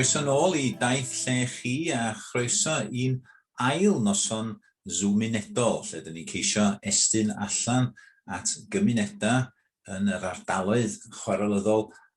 Croeso nôl i Daith Lle Chi a chroeso i'n ail noson Zoomunedol lle dyn ni'n ceisio estyn allan at gymunedau yn yr ardaloedd chwarelyddol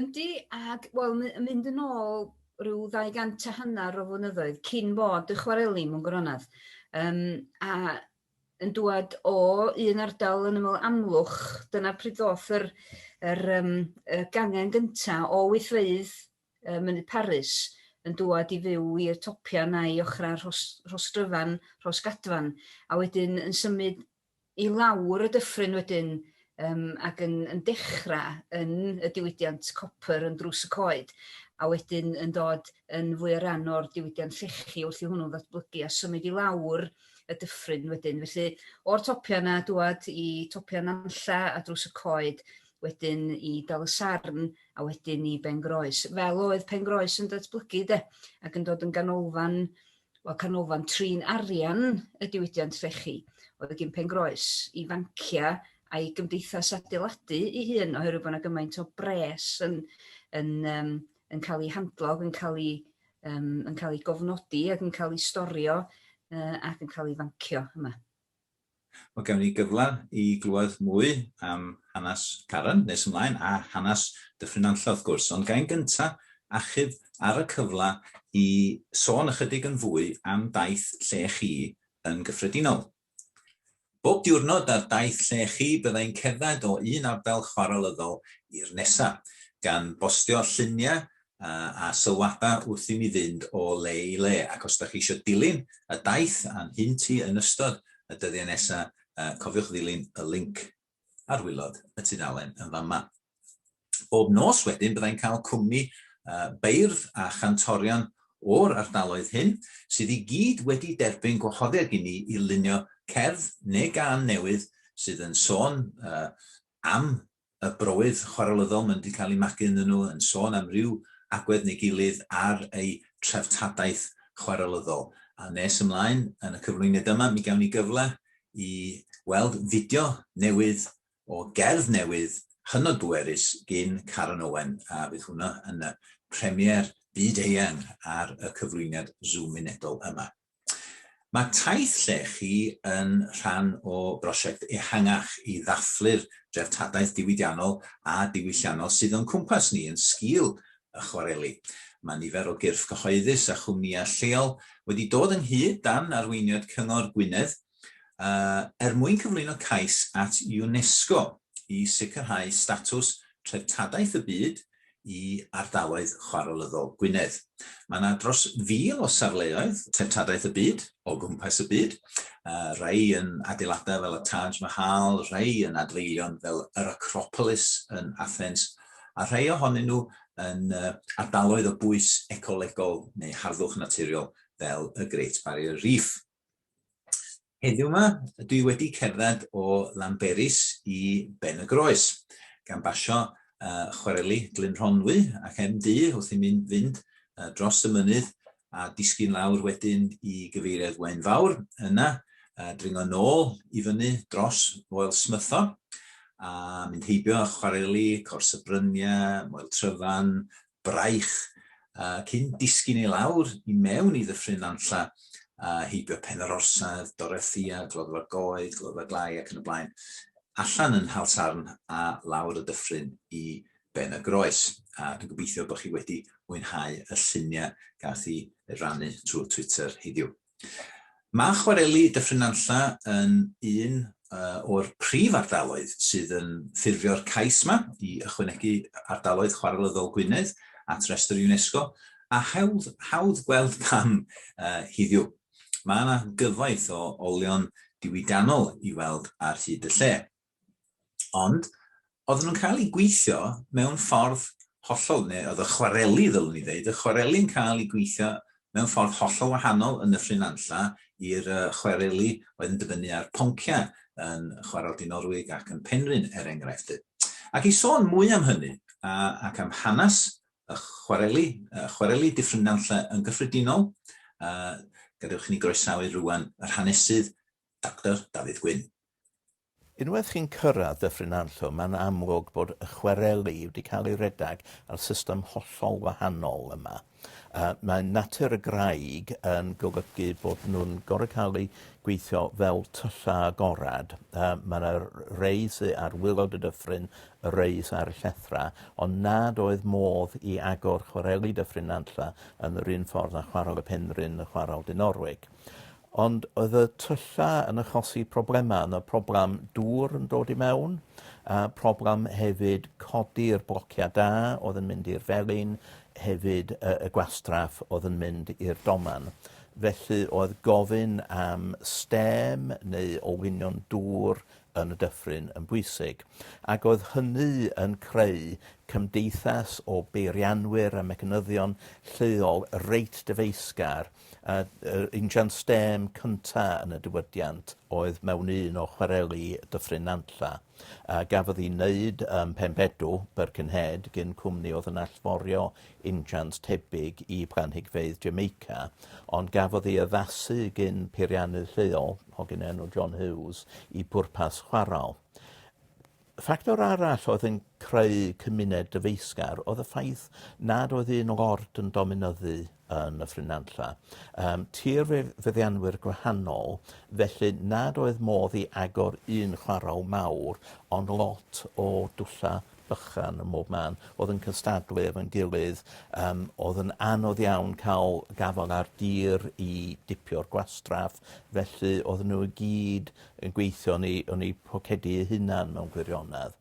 Yndi, ac wel, my- yn mynd yn ôl rhyw 200 a hanner o flynyddoedd cyn bod y chwareli mewn gwirionedd. Um, a yn dŵad o un ardal yn ymwyl amlwch, dyna pryd ddoth yr, yr, um, y gangen gynta o wythfeydd uh, Mynydd Paris yn dŵad i fyw i'r topiau na i ochrau Rhos, Rhosdryfan, Rhosgadfan, a wedyn yn symud i lawr y dyffryn wedyn um, ac yn, yn dechrau yn y diwydiant copr yn drws y coed, a wedyn yn dod yn fwy o ran o'r diwydiant llechi wrth i hwnnw ddatblygu a symud i lawr y dyffryn wedyn. Felly, o'r topiau yna, dwad i topiau nanlla a drws y coed, wedyn i dal y sarn a wedyn i Bengroes. Fel oedd Pengroes yn datblygu de, ac yn dod yn ganolfan Wel, canolfan trin arian y diwydiant llechi oedd gin Pengroes i fancia a'i gymdeithas adeiladu ei hun oherwydd bod yna gymaint o bres yn, yn, um, yn cael ei handlo ac yn cael ei, um, yn cael ei gofnodi ac yn cael ei storio uh, ac yn cael ei fancio yma. Mae gennym ni gyfle i glywed mwy am hanes Karen nes ymlaen, a hanes Dyffryn Nantlle wrth gwrs, ond ga i'n gyntaf achub ar y cyfle i sôn ychydig yn fwy am daith lle chi yn gyffredinol. Bob diwrnod ar daith lle chi bydda i'n cerdded o un ardal chwarelyddol i'r nesaf, gan bostio lluniau a sylwada wrth i mi fynd o le i le, ac os dach chi isio dilyn y daith a'n hyn ti yn ystod y dyddiau nesa, cofiwch ddilyn y linc ar wilod y tudalen yn fan 'ma. Bob nos wedyn byddai'n cael cwmni beirdd a chantorion o'r ardaloedd hyn, sydd i gyd wedi derbyn gwahoddiad i ni i lunio cerdd neu gân newydd sydd yn sôn am y bywyd chwarelyddol maen nhw wedi cael eu magu ynddyn nhw, yn sôn am ryw agwedd neu gilydd ar eu treftadaeth chwarelyddol. A nes ymlaen yn y cyflwyniad yma, mi gawn ni gyfle i weld fideo newydd o gerdd newydd hynod bwerus gin Caron Owen, a fydd hwnna yn y premiere byd-eang ar y cyflwyniad Zoom unedol yma. Mae taith llechi yn rhan o brosiect ehangach i ddathlu'r dreftadaeth diwydiannol a diwylliannol sydd o'n cwmpas ni yn sgil y chwareli. Mae nifer o gyrff cyhoeddus a chwmnïau lleol wedi dod ynghyd dan arweiniad Cyngor Gwynedd er mwyn cyflwyno cais at UNESCO i sicrhau statws Treftadaeth y Byd i ardaloedd chwarelyddol Gwynedd. Mae yna dros fil o safleoedd treftadaeth y byd o gwmpas y byd, rhai yn adeiladau fel y Taj Mahal, rhai yn adfeilion fel yr Acropolis yn Athens, a rhai ohonyn nhw yn ardaloedd o bwys ecolegol neu harddwch naturiol fel y Great Barrier Reef. Heddiw yma, dwi wedi cerdded o Lanberis i Ben y Groes, gan basio uh, chwareli Glyn Rhonwy ac MD wrth i mi fynd uh, dros y mynydd a disgyn lawr wedyn i gyfeiriad Waun Fawr, yna uh, dringo nôl i fyny dros Moel Smytho, a mynd heibio chwareli Cors y Bryniau, Moel Tryfan, braich, cyn disgyn i lawr i mewn i Ddyffryn Nantlla, a heibio Pen yr Orsedd, Dorothea, Gloddfa Goed, Gloddfa Glai ac yn y blaen, allan yn Nhal Sarn a lawr y dyffryn i Ben y Groes. A dwi'n gobeithio bod chi wedi mwynhau y lluniau gath i rannu trwy Twitter heddiw. Mae chwareli Dyffryn Nantlle yn un o'r prif ardaloedd sydd yn ffurfio'r cais yma i ychwanegu Ardaloedd Chwarelyddol Gwynedd at restr UNESCO, a hawdd, hawdd gweld pam uh, hiddiw. Mae yna gyfoeth o olion diwydiannol i weld ar hyd y lle. Ond, oedden nhw'n cael ei gweithio mewn ffordd hollol, neu oedd y chwareli, ddylwn i ddeud, y chwareli'n cael ei gweithio mewn ffordd hollol wahanol yn Nyffryn Anlla i'r chwareli oedd yn dibynnu ar ponciau yn Chwarel Dinorwig ac yn Penrhyn, er enghraifft. Ac i sôn mwy am hynny, ac am hanes y chwareli, y chwareli Dyffryn Nanlle yn gyffredinol, gadewch i ni groesawu rwan yr hanesydd Doctor Dafydd Gwyn. Unwaith chi'n cyrraedd Dyffryn Nantlle, mae'n amlwg bod y chwareli wedi cael ei redeg ar system hollol wahanol yma. Uh, mae natur y graig yn golygu bod nhw'n gorau cael eu gweithio fel tyllau agored. Uh, mae yna rei sy ar wylod y dyffryn, y rei sy ar y llethrau, ond nad oedd modd i agor chwareli Dyffryn Nantlle yn yr un ffordd â chwarel y Penrhyn a chwarel Dinorwig. Ond oedd y tylla yn achosi problemau. Oedd 'na problem dŵr yn dod i mewn, a problem hefyd codi'r blociau da oedd yn mynd i'r felin, hefyd y, y gwastraff oedd yn mynd i'r doman. Felly oedd gofyn am stêm neu olwynion dŵr yn y dyffryn yn bwysig, ac oedd hynny yn creu cymdeithas o beirianwyr a mecanyddion lleol reit dyfeisgar A yr injan stêm cynta yn y diwydiant oedd mewn un o chwareli Dyffryn Nantlla, a gafodd ei wneud ym Mhenbedw, Birkenhead, gin cwmni oedd yn allforio injans tebyg i blanhigfeydd Jamaica, ond gafodd ei addasu gin peiriannydd lleol, hogyn enw John Hughes, i bwrpas chwarel. Ffactor arall oedd yn creu cymuned dyfeisgar oedd y ffaith nad oedd un lord yn dominyddu yn y ffrynanlla. Um, tir fe feddianwyr gwahanol, felly nad oedd modd i agor un chwaraw mawr, ond lot o dwlla bychan ym mhob man, oedd yn cystadlu efo'n gilydd. Um, oedd yn anodd iawn cael gafael ar dir i dipio'r gwastraff, felly oedd nhw i gyd yn gweithio yn eu, yn eu pocedu eu hunan mewn gwirionedd.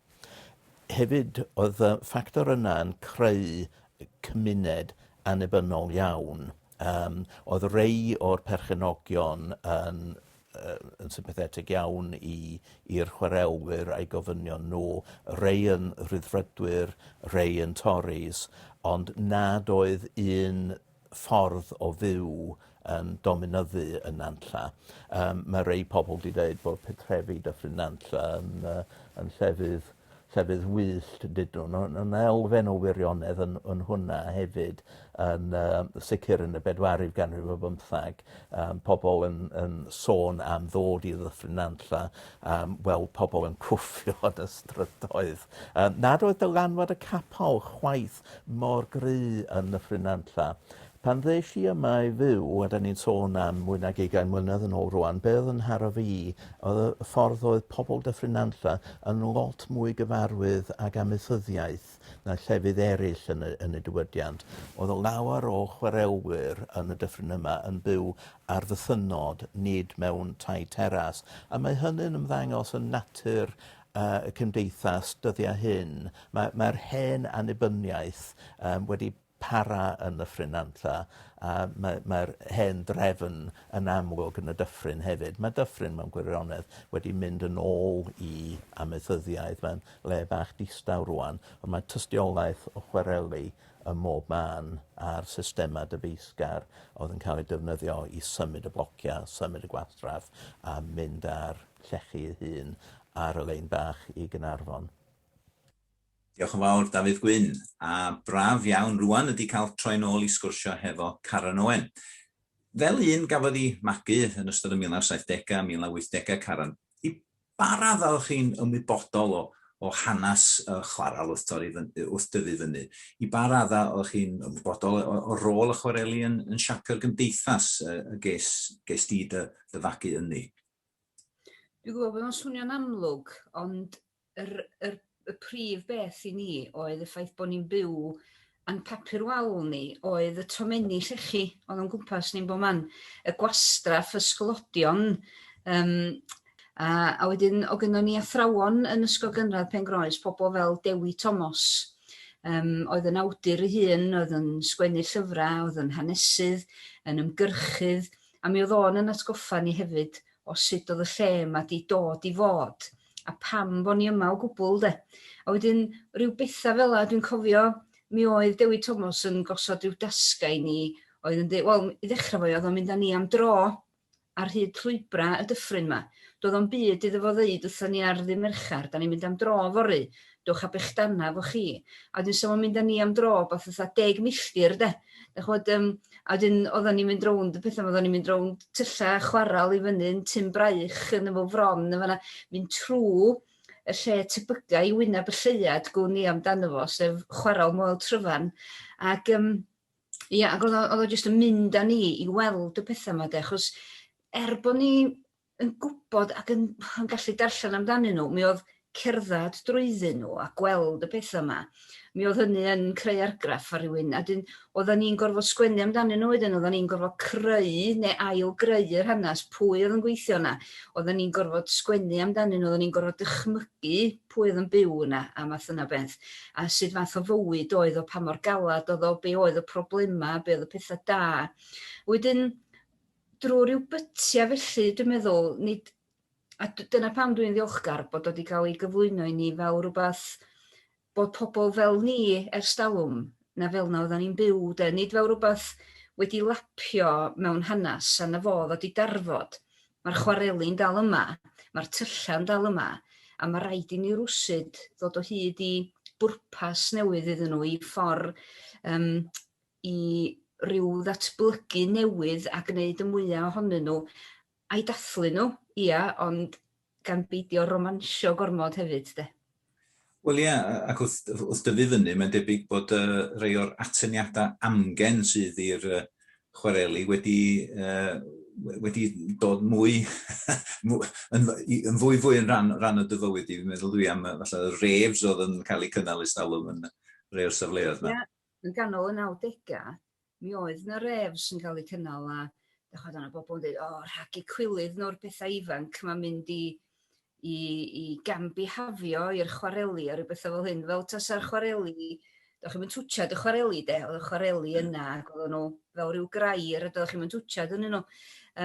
Hefyd, oedd y ffactor yna yn creu cymuned annibynnol iawn. Um, oedd rei o'r perchenogion yn, uh, yn sympathetig iawn i'r chwaraewyr a'i gofynion nhw, rei yn rhyddfrydwyr, rei yn Tories, ond nad oedd un ffordd o fyw yn dominyddu yn Nantlla. Yym ma' rei pobol 'di deud bod pentrefi Dyffryn Nantlla yn yy yn llefydd llefydd wyllt dydyn n'w on' ma' elfen o wirionedd yn yn hwnna hefyd yn yy sicir yn y bedwaredd ganrif ar bymthag yym pobol yn yn sôn am ddod i Ddyffryn Nantlla yym weld pobol yn cwffio yn y strydoedd. Yym nad oedd dylanwad y capal chwaith mor gry yn Nyffryn Nantlla. Pan ddes i yma i fyw, a 'dan ni'n sôn am mwy nag ugain mlynedd yn ôl rŵan, be' o'dd yn nharo fi o'dd y y ffordd oedd pobol Dyffryn Nantlla yn lot mwy gyfarwydd ag amaethyddiaeth na llefydd eryll yn y yn y diwydiant. O'dd y lawer o chwarelwyr yn y dyffryn yma yn byw ar fythynnod, nid mewn tai teras, a mae hynny'n ymddangos yn natur y cymdeithas dyddiau hyn. Mae mae'r hen annibyniaeth yym wedi para yn y ffrynantlla a mae mae'r hen drefn yn amlwg yn y dyffryn hefyd. Mae dyffryn mewn gwirionedd wedi mynd yn ôl i amaethyddiaeth. Mae'n le bach distaw rwan, ond mae tystiolaeth o chwareli ym mhob man a'r systemau dyfeisgar oedd yn cael eu defnyddio i symud y blociau, symud y gwastraff a mynd â'r llechi ei hun ar y lein bach i Gaernarfon. Diolch yn fawr Dafydd Gwyn, a braf iawn rŵan ydi cael troi yn ôl i sgwrsio hefo Caran Owen. Fel un gafodd i magu yn ystod y 1970 a 1980 Caran, i ba raddau o'ch chi'n ymwybodol o o hanes y chwarel wrth torri fyny, wrth dyfu fyny? I ba raddau o'ch chi'n ymwybodol o o rôl y chwareli yn yn siapio'r gymdeithas y y ges ges di dy dy fagu ynddi? Dwi'n gwybod bod o'n swnio'n amlwg, ond yr, yr, y prif beth i ni oedd y ffaith bod ni'n byw yn papur wal ni oedd y tomenni llechi oedd o'n gwmpas ni'n bod man, y gwastraff, y sglodion, um, a, a wedyn o gynnon ni athrawon yn Ysgol Gynradd Pengroes, pobl fel Dewi Tomos, um, oedd yn awdur ei hun, oedd yn sgwennu llyfrau, oedd yn hanesydd, yn ymgyrchydd, a mi oedd o'n yn atgoffa ni hefyd o sut oedd y lle yma 'di dod i fod, a pam bo' ni yma o gwbwl 'de. A wedyn ryw betha' fela dwi'n cofio mi oedd Dewi Tomos yn gosod ryw dasga i ni oedd yn deud wel i ddechrau fo oedd o'n mynd â ni am dro ar hyd llwybra y dyffryn 'ma. Doedd o'm byd iddo fo ddeud wrthon ni ar ddydd Mercher 'dan ni'n mynd am dro fory dwch a bechdana efo chi. A wedyn so fo'n mynd â ni am dro rwbath fatha deg milltir 'de. Dach ch'mod yym a wedyn oddan ni'n mynd rownd y petha 'ma oddan ni'n mynd rownd tylla' chwarel i fyny yn Tyn Braich yn y Fro Fron yn fan 'na mynd trw y lle tebyga' i wyneb y lleuad gwn i amdano fo sef chwarel Moel Tryfan ac yym ia ag o'dd o o'dd o jyst yn mynd â ni i weld y petha 'ma 'de achos er bo' ni yn gwybod ac yn yn gallu darllen amdanyn nhw, mi oedd cerdded drwyddyn nhw a gweld y pethau yma, mi oedd hynny yn creu argraff ar rywun, a dyn, oedden ni'n gorfod sgwennu amdanyn nhw wedyn, oedden ni'n gorfod creu neu ail greu yr hanes, pwy oedd yn gweithio yna, oedden ni'n gorfod sgwennu amdanyn nhw, oedden ni'n gorfod dychmygu pwy oedd yn byw yna a math yna beth, a sut fath o fywyd oedd o, pa mor galad oedd o, be oedd y problemau, be oedd y pethau da. Wedyn, drwy ryw bytiau felly dwi'n meddwl, nid, a dyna pam dwi'n ddiolchgar bod wedi cael ei gyflwyno i ni fel rhywbeth bod pobl fel ni ers dalwm, na fel na oedden ni'n byw, de, nid fel rhywbeth wedi lapio mewn hanes a na fo ddod i darfod. Mae'r chwareli'n dal yma, mae'r tyllau dal yma, a mae rhaid i ni rwsyd ddod o hyd i bwrpas newydd iddyn nhw, i ffordd um, i ryw ddatblygu newydd a gneud y mwya' ohonyn nhw, a'i dathlu nhw, ia, ond gan beidio romansio gormod hefyd 'de. Wel ia, ac wrth wrth dyfu fyny mae'n debyg bod yy rhei o'r atyniadau amgen sydd i'r yy chwareli wedi yy wedi dod mwy yn yn fwy fwy yn rhan rhan o dy fywyd di. Fi'n meddwl dwi am yy falle y raves oedd yn cael eu cynnal ers talwm yn rhei o'r safleoedd 'ma. Ia, Yn ganol y nawdegau, mi oedd 'na raves yn cael eu cynnal a dych ch'mod o' 'na bobl yn deud o rhag eu cwilydd nhw'r pethau ifanc 'ma mynd i i i gam-bihafio i'r chwareli a rhyw bethau fel hyn fel tasa'r chwareli dych chi'm yn twtshad y chwareli de, oedd y chwareli hmm. yna ac oedden nhw fel rhyw grair a dych chi'm yn twtshad ynddyn nhw.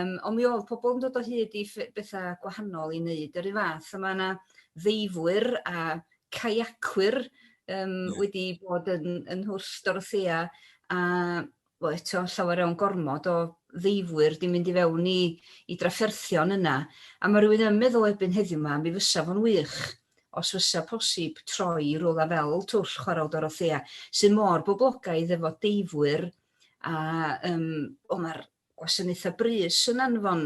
Um, ond mi oedd pobl yn dod o hyd i bethau gwahanol i wneud yr un fath a mae yna ddeifwyr a caiacwyr yym wedi bod yn yn Nhwrs Dorothea a wel eto llawer iawn gormod o ddeifwyr 'di mynd i fewn i i drafferthion yna a ma' rhywun yn meddwl erbyn heddiw 'ma mi fysa fo'n wych os fysa posib troi i rywle fel Twll Chwarel Dorothea sydd mor boblogaidd efo deifwyr a yym o ma'r gwasanaethau brys yn anfon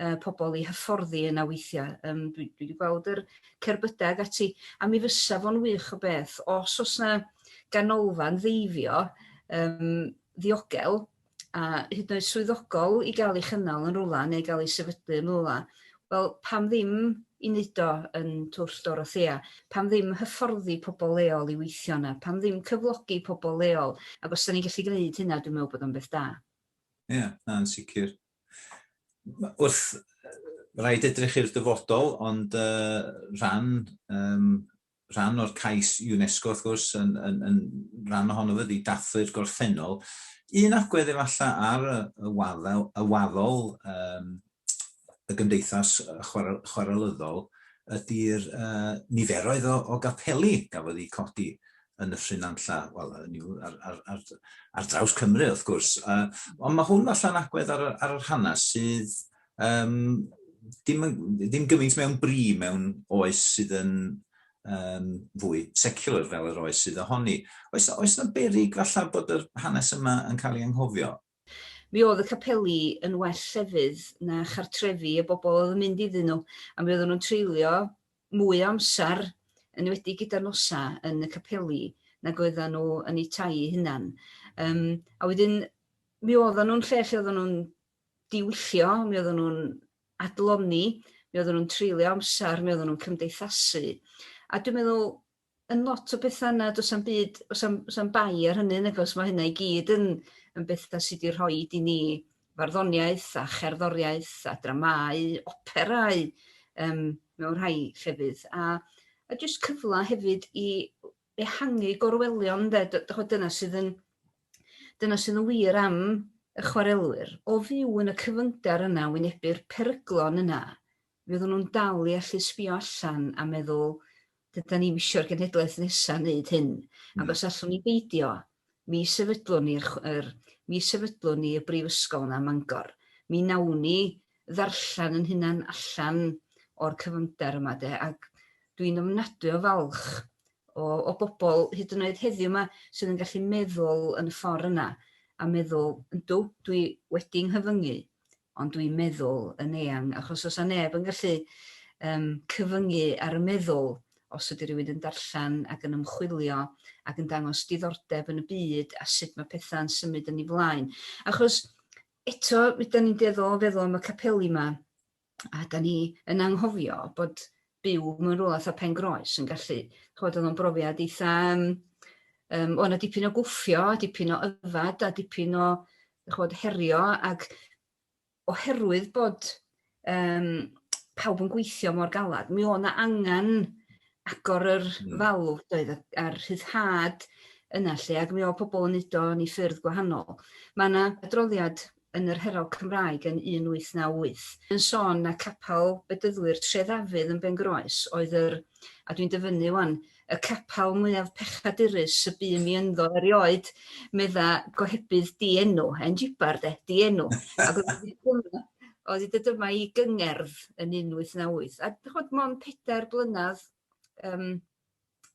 yy pobl i hyfforddi yna weithiau. Yym dwi dwi 'di gweld yr cerbydau ag ati, a mi fysa fo'n wych o beth os o's 'na ganolfan ddeifio yym ddiogel a hyd yn oed swyddogol i gael ei chynnal yn rwla neu gael ei sefydlu yn rwla, wel pam ddim i wneud o yn Twll Dorothea? Pam ddim hyfforddi pobl leol i weithio yna? Pam ddim cyflogi pobl leol? Ac os 'dan ni'n gallu gwneud hynna dwi'n meddwl bod o'n beth da. Ie, na, yn sicr. Wrth, rhaid edrych i'r dyfodol, ond uh, rhan, um, rhan o'r cais UNESCO, wrth gwrs, yn, yn, yn rhan ohono fyddi dathlu'r gorffennol. Un agwedd efallai ar y, y waddol, y waddol um, y gymdeithas chwarelyddol ydy'r niferoedd o gapeli gafodd eu codi yn y ffrynanlla, wel, hynny yw, ar, ar, ar, ar draws Cymru, wrth gwrs. Uh, ond mae hwn falle'n agwedd ar, ar yr hanes sydd um, dim, dim gymaint mewn bri mewn oes sydd yn um, fwy secular fel yr oes sydd ohoni. Oes, oes na berig falle bod yr hanes yma yn cael ei anghofio? Mi oedd y capeli yn well llefydd na chartrefi y bobl oedd yn mynd iddyn nhw, a mi oedden nhw'n treulio mwy o amser, yn enwedig gyda'r nosau, yn y capeli nag oedden nhw yn eu tai eu hunan. Um, a wedyn, mi oedden nhw'n lle lle oedden nhw'n diwyllo, mi oedden nhw'n adloni, mi oedden nhw'n treulio amser, mi oedden nhw'n cymdeithasu. A dwi'n meddwl, yn lot o betha' yna do's 'am byd o's 'am o's 'am bai ar hynny nag o's ma' hynna i gyd yn yn betha' sy 'di rhoid i ni farddoniaeth a cherddoriaeth a dramâu operâu yym mewn rhai llefydd a a jyst cyfla hefyd i ehangu gorwelion ynde dy- dych ch'od dyna sydd yn dyna sydd yn wir am y chwarelwyr o fyw yn y cyfyngder yna wynebu'r peryglon yna fydden nhw'n dal i allu sbio allan a meddwl, dydan ni'm isio'r genhedlaeth nesa wneud hyn, ac os allwn ni beidio, mi sefydlwn ni'r, yr, mi sefydlwn ni y brifysgol yna ym Mangor. Mi wnawn ni ddarllen yn hunan allan o'r cyfyngder yma de, ac dwi'n ofnadwy o falch o, o bobl hyd yn oed heddiw yma sydd yn gallu meddwl yn y ffordd yna a meddwl, yndw, dwi wedi nghyfyngu, ond dwi'n meddwl yn eang, achos os a neb yn gallu um, cyfyngu ar y meddwl, os ydy rhywun yn darllen ac yn ymchwilio ac yn dangos diddordeb yn y byd a sut mae pethau'n symud yn ei flaen. Achos eto, rydyn ni'n dueddol o feddwl am y capeli yma, a da ni yn anghofio bod byw mewn rhywle fatha pen groes yn gallu, chod oedd o'n brofiad eitha, um, um, o'n a dipyn o gwffio, dipyn o yfad, a dipyn o chod, herio, ac oherwydd bod um, pawb yn gweithio mor galad, mi o'n angen agor yr hmm. falw doedd a'r rhyddhad yna lle ac mi o pobl yn neud o yn ei ffyrdd gwahanol. Mae yna adroddiad yn yr Herald Cymraeg yn 1898, yn sôn na capel Bedyddwyr Trê Ddafydd yn Bengroes oedd yr, a dwi'n dyfynnu 'wan, y capel mwyaf pechadurus y bu mi ynddo erioed, medda gohebydd di-enw, en jibar de, di-enw, ac oedd wedi dyma i gyngerdd yn 1898, a chod, mond pedair blynadd um,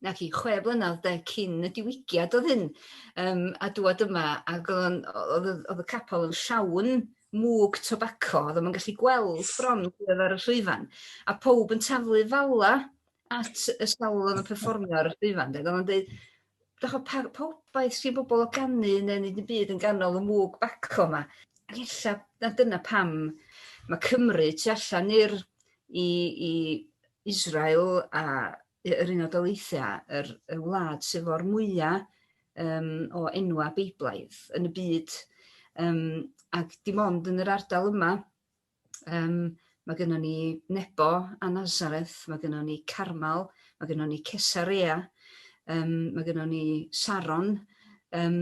na chi, chwe blynedd de, cyn y diwygiad oedd hyn, um, a dwad yma, ac oedd, oedd, oedd y capel yn llawn mwg tobacco, oedd yma'n gallu gweld bron oedd ar y llwyfan, a pob yn taflu falla at y sawl oedd yn performio ar y llwyfan, de, oedd yn dweud, Dych o, pa, pa wbaeth sy'n bobl o ganu neu nid yn byd yn ganol y mwg baco yma. Ac ella na dyna pam mae Cymru tu allan i'r i, i Israel a y yr Unol Daleithiau, yr y wlad sydd o'r mwya' yym o enwa' Beiblaidd yn y byd yym ac dim ond yn yr ardal yma yym ma' gynnon ni Nebo a Nazareth, ma' gynnon ni Carmel, ma' gynnon ni Cesarea, yym ma' gynnon ni Saron, yym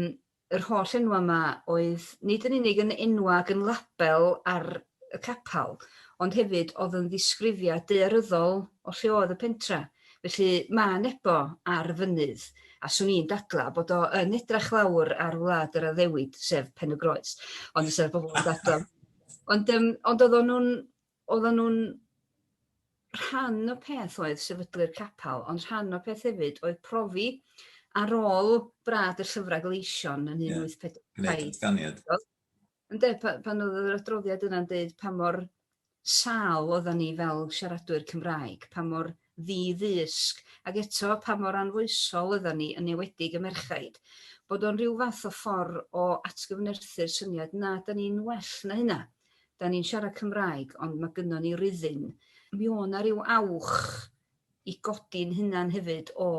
yr holl enwau 'ma oedd nid yn unig yn enwau ac yn label ar y capel, ond hefyd oedd yn ddisgrifiad daearyddol o lle oedd y pentra. Felly, mae Nebo ar fynydd, a 'swn i'n dadlau bod o yn edrych lawr ar wlad yr addewid, sef Pen-y-groes. Ond fysa bobl yn dadlau. Ond, um, ond oedden nhw'n oedden nhw'n rhan o peth oedd sefydlu'r capel, ond rhan o peth hefyd oedd profi ar ôl brad y llyfrau gleision yn 1840. Ynde, pan oedd yr adroddiad yna'n dweud pa mor sal oedden ni fel siaradwyr Cymraeg, pa mor ddi-ddysg, ac eto pa mor anfoesol oeddan ni, yn enwedig y merchaid, bod o'n rhyw fath o ffordd o atgyfnerthu'r syniad, na, 'dan ni'n well na hynna, 'dan ni'n siarad Cymraeg ond ma' gynnon ni ryddhyn. Mi o' 'na ryw awch i godi'n hunan hefyd o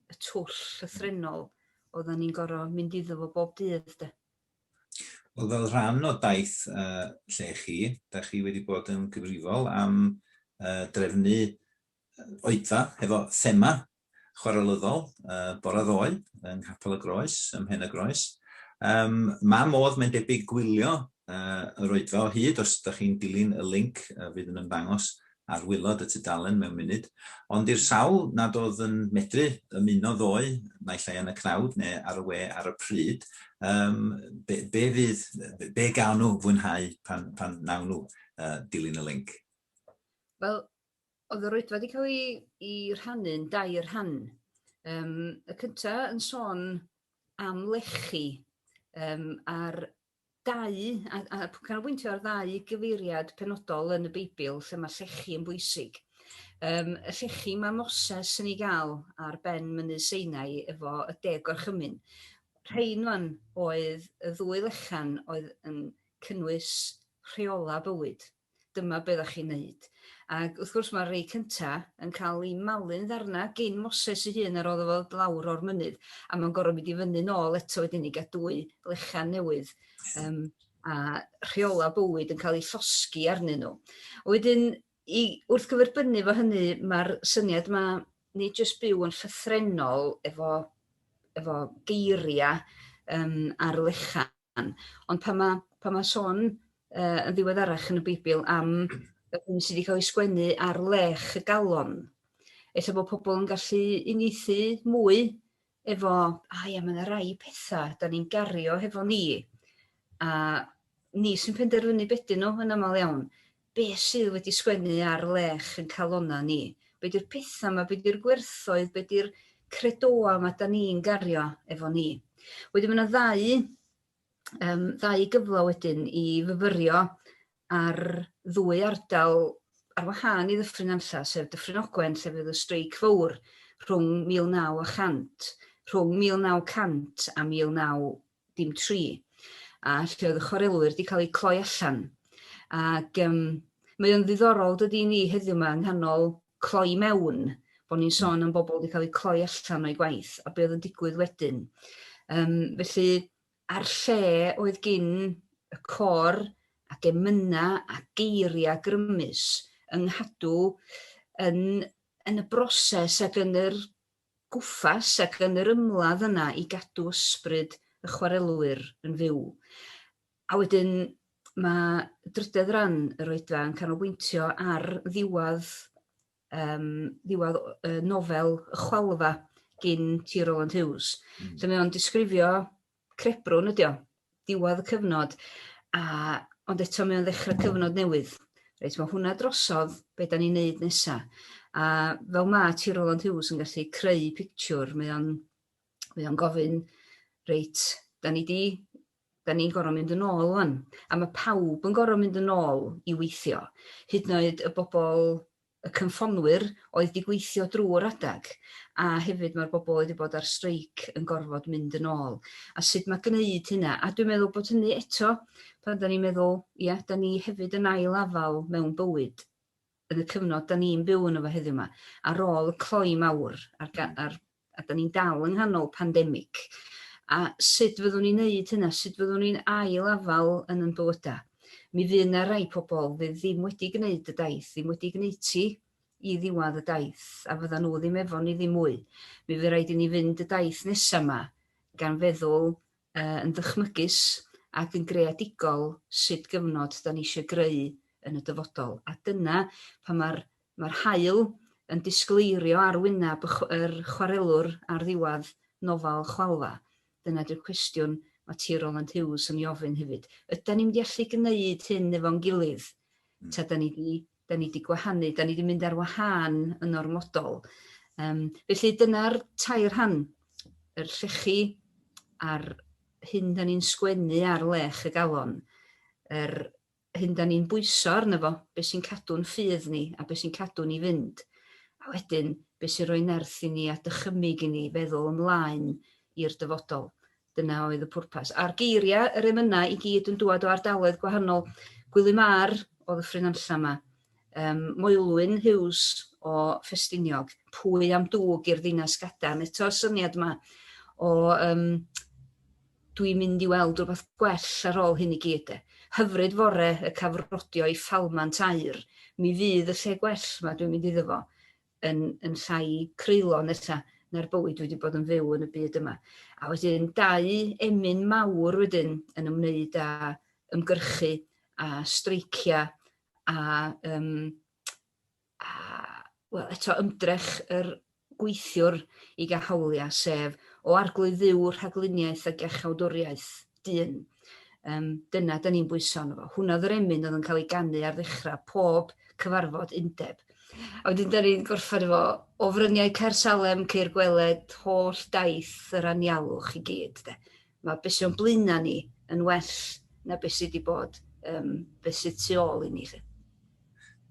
y twll llythrennol oeddan ni'n gor'o' mynd iddo fo bob dydd 'de. Wel, fel rhan o daith uh, lle chi, da chi wedi bod yn gyfrifol am uh, drefnu oedfa hefo thema chwarelyddol uh, bore ddoe yng Nghapel y Groes, ym Mhen y Groes. Um, mae modd, mae'n debyg, gwylio uh, yr oedfa o hyd os ydych chi'n dilyn y link uh, fydd yn ymddangos ar waelod y tudalen mewn munud, ond i'r sawl nad oedd yn medru ymuno ddoe, naill ai yn y cnawd neu ar y we ar y pryd, yym, be, be fydd, be gawn nhw fwynhau pan, pan nawn nhw uh, dilyn y link? Wel, oedd yr oedfa wedi cael ei, ei rhannu'n dair rhan. Um, y cyntaf yn sôn am lechi um, a'r Dau, a a canolbwyntio ar ddau gyfeiriad penodol yn y Beibl lle mae llechi yn bwysig. Yym, y llechi mae Moses yn ei gael ar ben mynydd Seinai efo y deg gorchymyn. Rhain wan oedd y ddwy lechan oedd yn cynnwys rheola bywyd. dyma be ddach chi'n neud. Ac wrth gwrs mae'r rei cynta yn cael eu malu'n ddarnau gin Moses ei hun a roddo fo lawr o'r mynydd a mae'n gorfod mynd i fyny nôl eto wedyn i gael dwy lechan newydd um, a rheola bywyd yn cael ei llosgi arnyn nhw. Wedyn, i, wrth gyferbynnu fo hynny, mae'r syniad yma ni jyst byw yn llythrenol efo, efo geiriau um, ar lechan, Jan. Ond pan ma' pan ma' sôn yy yn ddiweddarach yn y Beibl am y hyn sydd 'di ca'l 'i sgwennu ar lech y galon, ella bod pobl yn gallu uniaethu mwy efo, a ia, mae 'na rai petha 'dan ni'n gario hefo ni, a ni sy'n penderfynu be' 'dyn nhw yn aml iawn. Be sydd wedi sgwennu ar lech yn calonna ni? Be di'r petha ma, be di'r gwerthoedd, be di'r credoau ma da ni'n gario efo ni? Wedyn ma na ddau yym ddau gyfle wedyn i fyfyrio ar ddwy ardal ar wahân i Ddyffryn Nantlla, sef Dyffryn Ogwen lle fydd y streic fowr rhwng 1900 rhwng 1900 a 1900 dim tri, a lle oedd y chwarelwyr wedi cael eu cloi allan. Ac um, mae o'n ddiddorol dydy ni heddiw yma yng nghanol cloi mewn, bod ni'n sôn am bobl wedi cael eu cloi allan o'i gwaith, a be oedd yn digwydd wedyn. Um, felly, a'r lle oedd gyn y cor ac emyna a geiriau grymus yng nghadw yn, yn y broses ac yn yr gwmpas ac yn yr ymladd yna i gadw ysbryd y chwarelwyr yn fyw. A wedyn mae drydedd ran yr oedfa yn canolbwyntio ar ddiwedd, um, ddiwedd uh, nofel y chwalfa gyn T. Roland Hughes. Mm. Lle mae o'n disgrifio crebrwn ydi o, diwedd y cyfnod, a, ond eto mae o'n ddechrau cyfnod newydd. Reit, mae hwnna drosodd, be da ni'n neud nesa. A fel ma ti Roland Hughes yn gallu creu pictiwr, mae o'n, mae o'n gofyn, reit, da ni di, da ni'n gorau mynd yn ôl o'n. A mae pawb yn gorau mynd yn ôl i weithio. Hyd yn oed y bobl y cynffonnwyr oedd 'di gweithio drwy'r adeg, a hefyd mae'r bobl oedd 'di bod ar streic yn gorfod mynd yn ôl, a sut mae gwneud hynna. A dwi'n meddwl bod hynny eto, pan 'da ni'n meddwl, ia, 'da ni hefyd yn ail afael mewn bywyd, yn y cyfnod 'da ni'n byw yno fo heddiw 'ma, ar ôl y cloi mawr a'r ga- a'r a 'dan ni'n dal yng nghanol pandemic, a sut fyddwn ni'n neud hynna, sut fyddwn ni'n ail-afal yn yn bywyda. Mi fydd 'na rai pobl fydd ddim wedi gwneud y daith, ddim wedi gwneutu i ddiwadd y daith, a fyddan nhw ddim efo ni ddim mwy. Mi fydd rhaid i ni fynd y daith nesa 'ma gan feddwl uh, yn ddychmygus ac yn greadigol sut gyfnod 'dan ni eisiau greu yn y dyfodol. A dyna pan mae'r Mae'r haul yn disgleirio ar wyneb yr chwarelwr ar ddiwedd nofel Chwalfa. Dyna ydy'r cwestiwn mae T. Rowland Hughes yn ei ofyn hefyd. Ydan ni'n mynd i allu gwneud hyn efo'n gilydd? Ta 'dan ni 'di 'dan ni 'di gwahanu, 'dan ni 'di mynd ar wahân yn ormodol? Yym felly dyna'r tair rhan, yr llechi a'r hyn 'dan ni'n sgwennu ar lech y galon, yr hyn 'da ni'n bwyso arno fo, be' sy'n cadw'n ffydd ni a be' sy'n cadw ni fynd, a wedyn be' sy'n rhoi nerth i ni a dychymyg i ni feddwl ymlaen i'r dyfodol. Dyna oedd y pwrpas. A'r geiria' yr emyna' i gyd yn dŵad o ardaloedd gwahanol. Gwilym Ar o Ddyffryn Nantlla 'ma, yym Moelwyn Hughes o Ffestiniog, pwy am dŵg i'r ddinas gadarn, eto'r syniad 'ma o yym dwi'n mynd i weld rwbath gwell ar ôl hyn i gyd 'de. Hyfryd fore y cafrodio i Falmant aur, mi fydd y lle gwell 'ma dwi'n mynd iddo fo yn yn llai creulon nesa na'r bywyd dwi 'di bod yn fyw yn y byd yma. A wedyn dau emyn mawr wedyn yn ymwneud â ymgyrchu a streicia a um, a wel eto ymdrech yr gweithiwr i gael hawliau, sef o Arglwydd Dduw, rhagluniaeth a gerchawdwriaeth, dyn. Um, dyna da ni'n bwyso arno fo. Hwna oedd yr emyn oedd yn cael ei ganu ar ddechrau pob cyfarfod undeb. A wedyn da ni'n gorffen efo o fryniau Caer Salem, Ceir Gweled, holl daith yr anialwch i gyd. De. Mae be sy o'n blaenau ni yn well na be sy wedi bod, um, be sydd tu ôl i ni. Lly.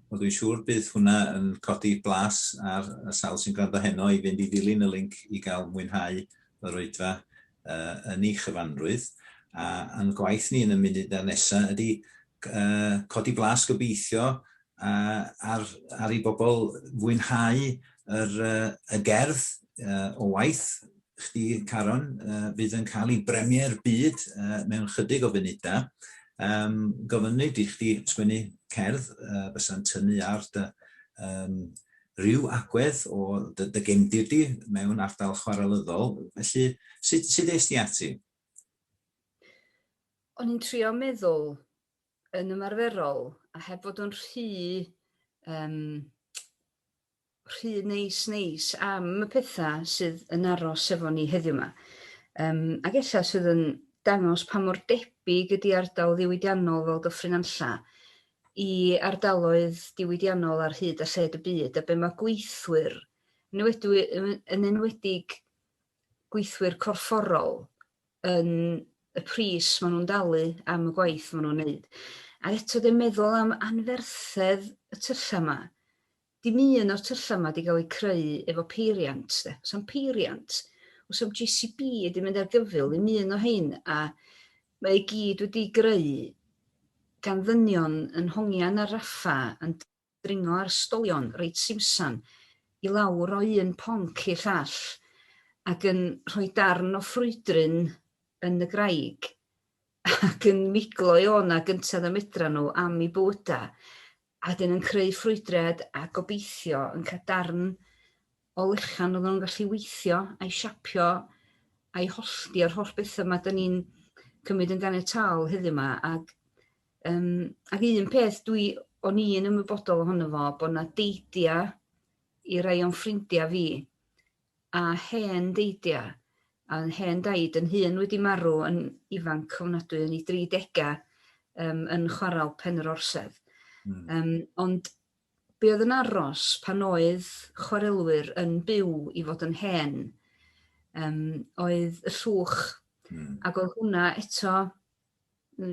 Wel, dwi'n siŵr bydd hwnna yn codi blas ar y sawl sy'n gwrando heno i fynd i ddilyn y link i gael mwynhau yr oedfa uh, yn ei chyfanrwydd. A yn gwaith ni yn y munud a nesaf ydy uh, codi blas gobeithio uh, ar, ar i bobl fwynhau yr, uh, y gerdd uh, o waith chdi, Caron, uh, fydd yn cael ei bremier byd uh, mewn chydig o funudau. Um, gofynnu di chdi sgwennu cerdd uh, fysa'n tynnu ar dy um, rhyw agwedd o dy, dy gemdir di mewn ardal chwarelyddol. Felly, sut, sut eist ti ati? O'n i'n trio meddwl yn ymarferol a heb fod yn rhy um, rhy neis neis am y pethau sydd yn aros efo ni heddiw yma. Um, ac ella sydd yn dangos pa mor debyg ydy ardal ddiwydiannol fel Dyffryn Anlla i ardaloedd diwydiannol ar hyd a lled y byd a be mae gweithwyr, yn enwedig gweithwyr corfforol, yn y pris maen nhw'n dalu am y gwaith maen nhw'n wneud. A eto dwi'n meddwl am anferthedd y tyllau yma. Dim un o'r tyllau yma wedi cael eu creu efo peiriant. De. Os am peiriant, os am GCB wedi mynd ar gyfyl, ddim un o hyn, a mae i gyd wedi greu gan ddynion yn hongian ar raffa yn dringo ar stolion reit simsan i lawr o un ponc i'r llall ac yn rhoi darn o ffrwydryn yn y graig ac yn miglo i o'na gynted y medran nhw am i bywyda a wedyn yn creu ffrwydriad a gobeithio yn cael darn o lechan odda nw'n gallu weithio a'i siapio a'i hollti a'r holl betha 'ma 'dan ni'n cymryd yn ganiataol heddiw 'ma ag yym ag un peth dwi o'n i yn ymwybodol ohono fo bo' 'na deidia i rai o'n ffrindia fi a hen deidia a o'dd hen daid yn hun wedi marw yn ifanc ofnadwy yn 'i dri dega yym yn chwaral Pen yr Orsedd. Hmm. Yym ond Be oedd yn aros pan oedd chwarelwyr yn byw i fod yn hen um, oedd y llwch. Mm. Ac oedd hwnna eto,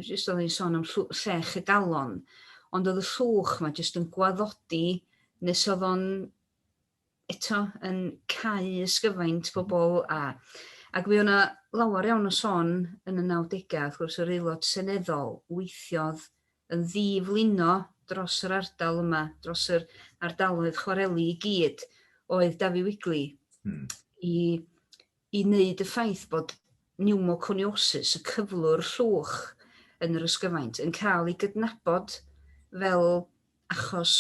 jyst oedd hi'n sôn am llech y galon, ond oedd y llwch mae jyst yn gwaddodi nes oedd o'n eto yn cau ysgyfaint pobl a ac fe o'na lawer iawn o sôn yn y 90au, wrth gwrs yr aelod seneddol weithiodd yn ddiflino dros yr ardal yma, dros yr ardaloedd chwareli i gyd, oedd Dafi Wigley. Hmm. I i wneud y ffaith bod niwmoconiosis, y cyflwr llwch yn yr ysgyfaint, yn cael ei gydnabod fel achos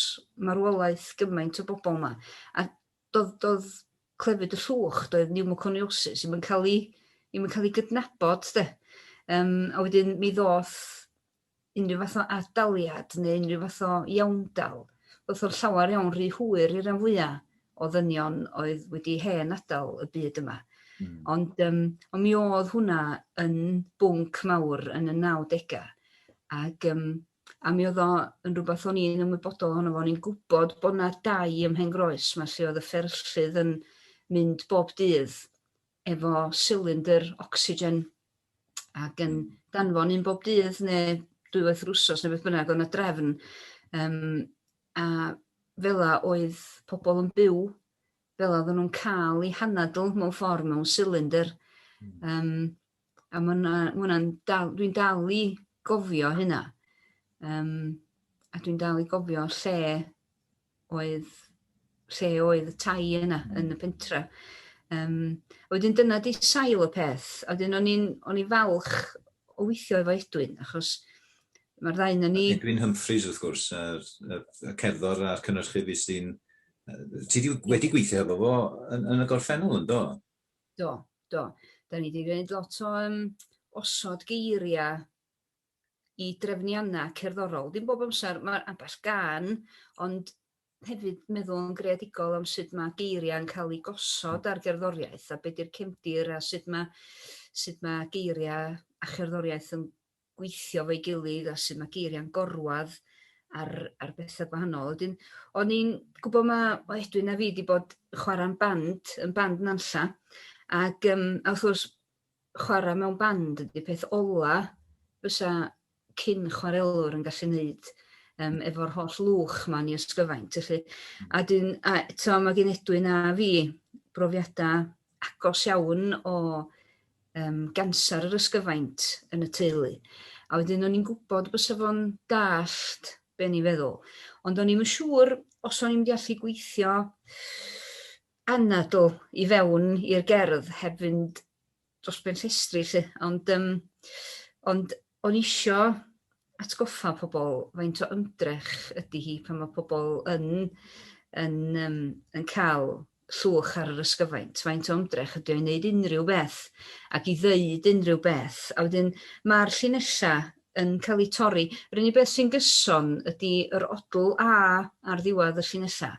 marwolaeth gymaint o bobl yma. A doedd, doedd clefyd y llwch, doedd niwmoconiosis, ddim yn cael ei, ddim yn cael ei gydnabod, de. Um, a wedyn mi ddoth unrhyw fath o ad-daliad neu unrhyw fath o iawndal, wrth o'r llawer iawn rhy hwyr i'r rhan fwyaf o ddynion oedd wedi hen adael y byd yma. Mm. Ond, um, ond mi oedd hwnna yn bwnc mawr yn y 90au. Ac, um, a mi oedd o yn rhywbeth o'n i'n ymwybodol ohono fo, o'n i'n gwybod bod yna dau ym Mhen Groes, mae lle oedd y fferllydd yn mynd bob dydd efo silindr ocsigen ac yn hmm. danfon un bob dydd neu dwywaith yr wsos neu beth bynnag o'n y drefn um, a fela oedd pobl yn byw fel oedd nhw'n cael eu hanadl mewn ffordd mewn silindr. Mm. Um, a mae'n dal, dwi'n dal i gofio hynna. Um, a dwi'n dal i gofio lle oedd lle oedd y tai yna yn y pentre. Um, a wedyn dyna di sail y peth. A wedyn o'n i'n o'n i falch o weithio efo Edwin, achos mae'r ddau na ni... Edwin Humphreys, wrth gwrs, y cerddor a'r cynnyrchu fi sy'n... Ti wedi gweithio efo fo yn, yn y gorffennol, yn do? Do, do. Da ni wedi gwneud lot o um, osod geiriau i drefnianna cerddorol. Dim bob amser, mae ambell gan, ond hefyd meddwl yn greadigol am sut mae geiriau yn cael eu gosod ar gerddoriaeth a beth yw'r cefndir a sut mae, sut mae geiriau a cherddoriaeth yn gweithio fo'i gilydd a sut mae geiriau'n gorwad ar, ar bethau gwahanol. Wedyn, o'n i'n gwybod mae o Edwin a fi wedi bod chwarae'n band, yn band Nanlla, ac um, a wrth gwrs chwarae mewn band ydy peth ola fysa cyn chwarelwr yn gallu neud um, efo'r holl lwch ma'n i ysgyfaint. Felly, a dyn, a, to, mae gen Edwin a fi brofiadau agos iawn o um, gansar yr ysgyfaint yn y teulu. A wedyn o'n i'n gwybod bys fo'n dallt be ni feddwl. Ond o'n i'n siŵr os o'n i'n gallu gweithio anadl i fewn i'r gerdd heb fynd dros ben llestri 'lly, ond yym ond o'n isio atgoffa pobl faint o ymdrech ydy hi pan mae pobl yn yn yym yn cael llwch ar yr ysgyfaint, faint o ymdrech ydy o i wneud unrhyw beth ac i ddeud unrhyw beth. A wedyn mae'r llinellau yn cael eu torri. Yr unig beth sy'n gyson ydy yr odl A ar ddiwedd y llinellau.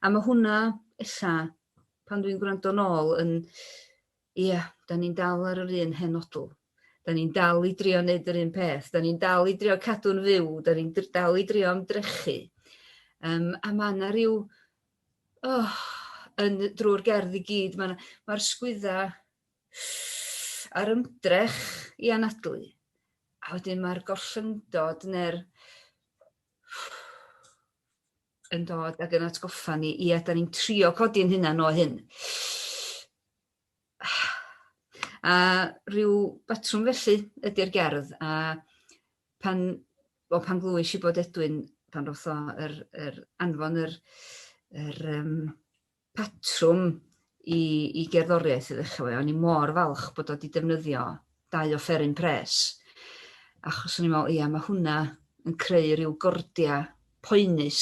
A mae hwnna, ella, pan dwi'n gwrando nôl, yn... Ie, yeah, da ni'n dal ar yr un hen odl. Da ni'n dal i drio wneud yr un peth. Da ni'n dal i drio cadw'n fyw. Da ni'n dal i drio ymdrechu. Um, a mae yna rhyw... Oh, yn drwy'r gerdd i gyd, mae'r ma, ma sgwydda a'r ymdrech i anadlu, a wedyn mae'r gollyngdod neu'r yn dod ag yn atgoffa ni, i da ni'n trio codi'n hynna'n o hyn. A rhyw batrwm felly ydy'r gerdd, a pan, o, pan glwys i bod Edwin, pan roth o yr, yr anfon yr, yr, um, patrwm i i gerddoriaeth i ddechrau efo hi, o'n i mor falch bod o 'di defnyddio dau offeryn pres, achos o'n i'n meddwl, ia, mae hwnna yn creu rhyw gordia poenus,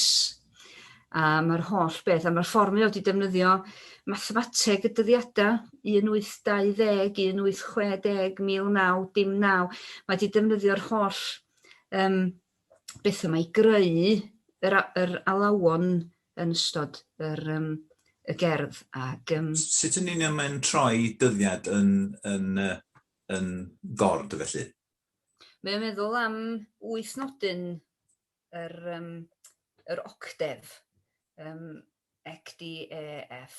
a mae'r holl beth, a mae'r ffordd mae o 'di defnyddio mathemateg y dyddiadau, 1820, 1860, 19, dim naw, mae 'di defnyddio'r holl um, beth yma i greu yr, yr alawon yn ystod yr, um, y gerdd. Ac, um... Sut yn union mae'n troi dyddiad yn, yn, yn gord felly? Mae'n meddwl am wyth nodyn yr, um, yr octef, um, ECDEF.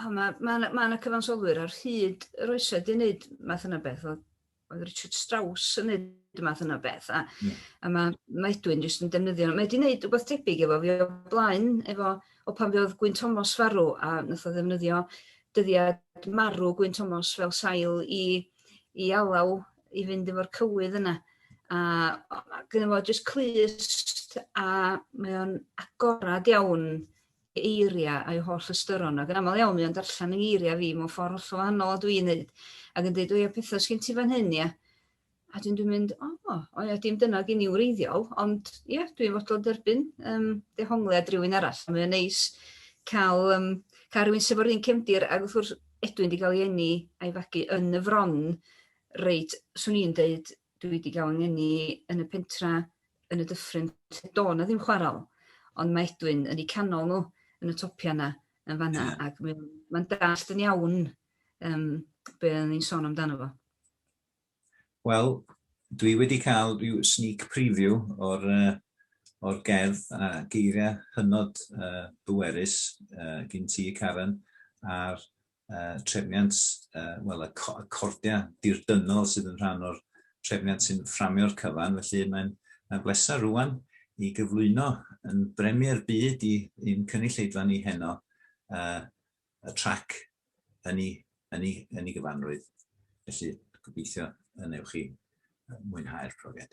O ma' ma' 'na ma' 'na cyfansoddwyr ar hyd yr oesoedd 'di neud math yna beth o oedd Richard Strauss yn neud math yna beth a... Yeah. ...a ma' ma' Edwin jyst yn defnyddio mae 'di neud rwbath tebyg efo fi o blaen efo o pan fe odd Gwyn Thomas farw a nath o ddefnyddio dyddiad marw Gwyn Thomas fel sail i i alaw i fynd efo'r cywydd yna a o- ma' gynno fo jyst clust a mae o'n agorad iawn eiriau a'i holl ystyron, ac yn aml iawn mae o'n darllen yng ngeiriau fi mewn ffordd hollol wahanol a dwi'n neud, ac yn deud, o ia, pethau sgyn ti fan hyn, ia? A dwi'n dwi'n mynd, o, oh, o ia, dim dyna gen i wreiddiol, ond ia, dwi'n fodlon derbyn um, dehongliad rhywun arall. Mae'n neis cael, um, cael rhywun sef o'r un cefndir, ac wrth gwrs, edwyn wedi cael ei enni a'i fagu yn y fron, reit, swn i'n deud, dwi wedi cael ei enni yn y pentra yn y dyffryn lle do' 'na ddim chwarel ond mae Edwyn yn 'u canol nhw yn y topia 'na yn fan 'na ac mae o'n ma'n dallt yn iawn yym be' o'n ni'n sôn amdano fo. Wel, dwi wedi cael rhyw sneak preview o'r uh, o'r gerdd a geiriau hynod uh, bwerus uh, gin ti, Karen, a'r uh, trefniant, uh, wel, y, co y cordiau dirdynol sydd yn rhan o'r trefniant sy'n fframio'r cyfan, felly mae'n mae bleser rwan i gyflwyno yn bremier byd i'n cynulleidfa ni heno uh, y trac yn ei, yn ei, yn ei gyfanrwydd. Felly, gobeithio yn ewch chi mwynhau'r profiad.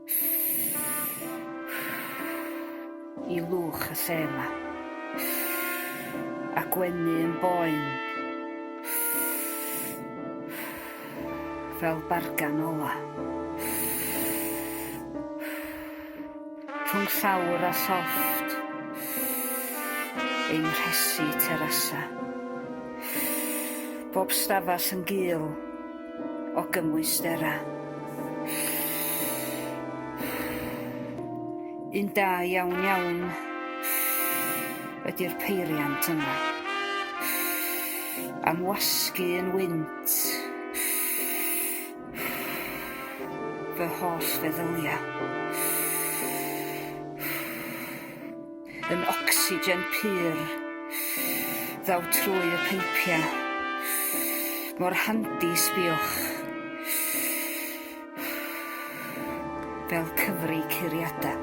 i lwch y lle yma. A gwenu yn boen. Fel bargan ola. Rhwng llawr a llofft. Ein rhesi terasa. Bob stafell yn gul. o gymwysterau. Un da iawn iawn ydy'r peiriant yma. Am wasgu yn wynt fy holl feddyliau. Yn ocsigen pur. Ddaw trwy y peipia. Mor handi, sbiwch. Fel cyfri curiada.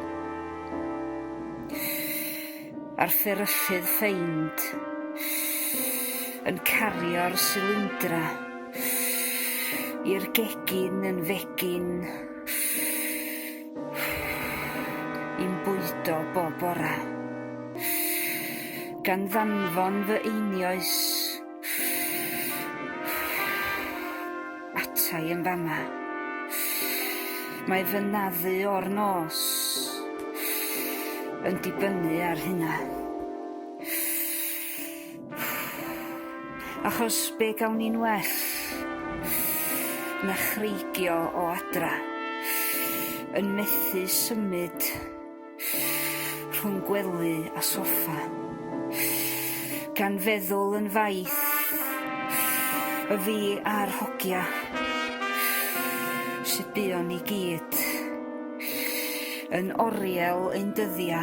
A'r fferyllydd ffeind. Yn cario'r silindra. I'r gegin yn fegin. Yn bwydo bob bore. Gan ddanfon fy einioes ata i yn fama. Mae fy naddu o'r nos yn dibynnu ar hynna. Achos be gawn ni'n well na chreigio o adra, yn methu symud rhwng gwely a soffa, gan feddwl yn faith y fi a'r hogia sydd buon ni gyd yn oriel ein dyddia.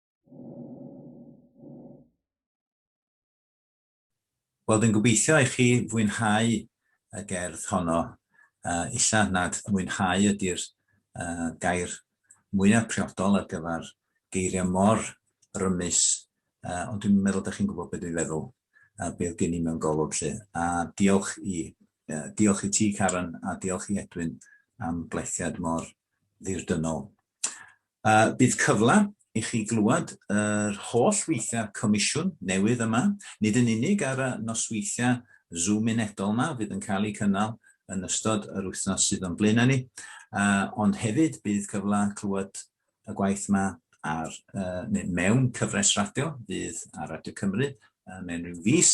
Wel, dwi'n gobeithio i chi fwynhau y gerdd honno. Uh, illa nad mwynhau ydy'r uh, gair mwyaf priodol ar gyfer geiriau mor rymus, uh, ond dwi'n meddwl da chi'n gwybod beth dwi'n feddwl, uh, beth gen i mewn golwg lle. A diolch i, uh, diolch i ti, Karen, a diolch i Edwin am blethiad mor ddirdynol. A bydd cyfle i chi glywed yr holl weithiau comisiwn newydd yma, nid yn unig ar y nosweithiau Zoom unedol yma fydd yn cael eu cynnal yn ystod yr wythnos sydd o'n blaenau ni, ond hefyd bydd cyfle clywed y gwaith yma ar, neu mewn cyfres radio fydd ar Radio Cymru mewn rhyw fis,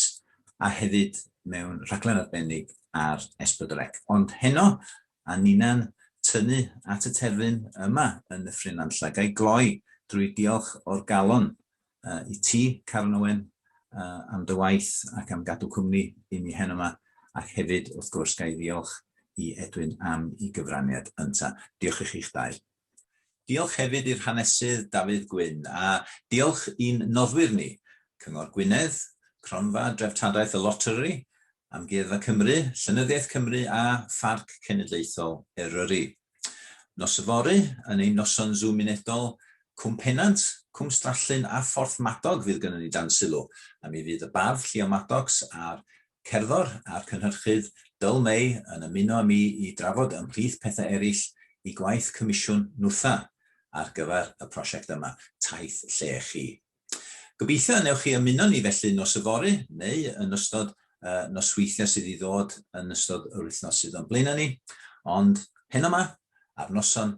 a hefyd mewn rhaglen arbennig ar S4C. Ond heno, a ninnau'n tynnu at y terfyn yma yn Nyffryn Nantlle. Ga i gloi drwy diolch o'r galon i ti, Caron Owen, am dy waith ac am gadw cwmni i mi heno 'ma, ac hefyd, wrth gwrs, ga i ddiolch i Edwyn am 'i gyfraniad ynta. Diolch i chi'ch dau. Diolch hefyd i'r Hanesydd Dafydd Gwyn a diolch i'n noddwyr ni, Cyngor Gwynedd, Cronfa Dreftadaeth y Loteri, Amgueddfa Cymru, Llenyddiaeth Cymru a Pharc Cenedlaethol Eryri. Nos yfory, yn ein noson Zoom unedol, Cwm Pennant, Cwm Strallyn a Phorthmadog fydd gynnon ni dan sylw, a mi fydd y Bardd Llio Maddox a'r cerddor a'r cynhyrchydd Dull May yn ymuno â mi i drafod ymhlith pethau eraill i gwaith comisiwn Nwtha ar gyfer y prosiect yma, Taith Lle Chi. Gobeithio y newch chi ymuno ni felly nos yfory neu yn ystod y nosweithiau sydd i ddod yn ystod yr wythnos sydd o'n blaenau ni, ond heno 'ma, ar noson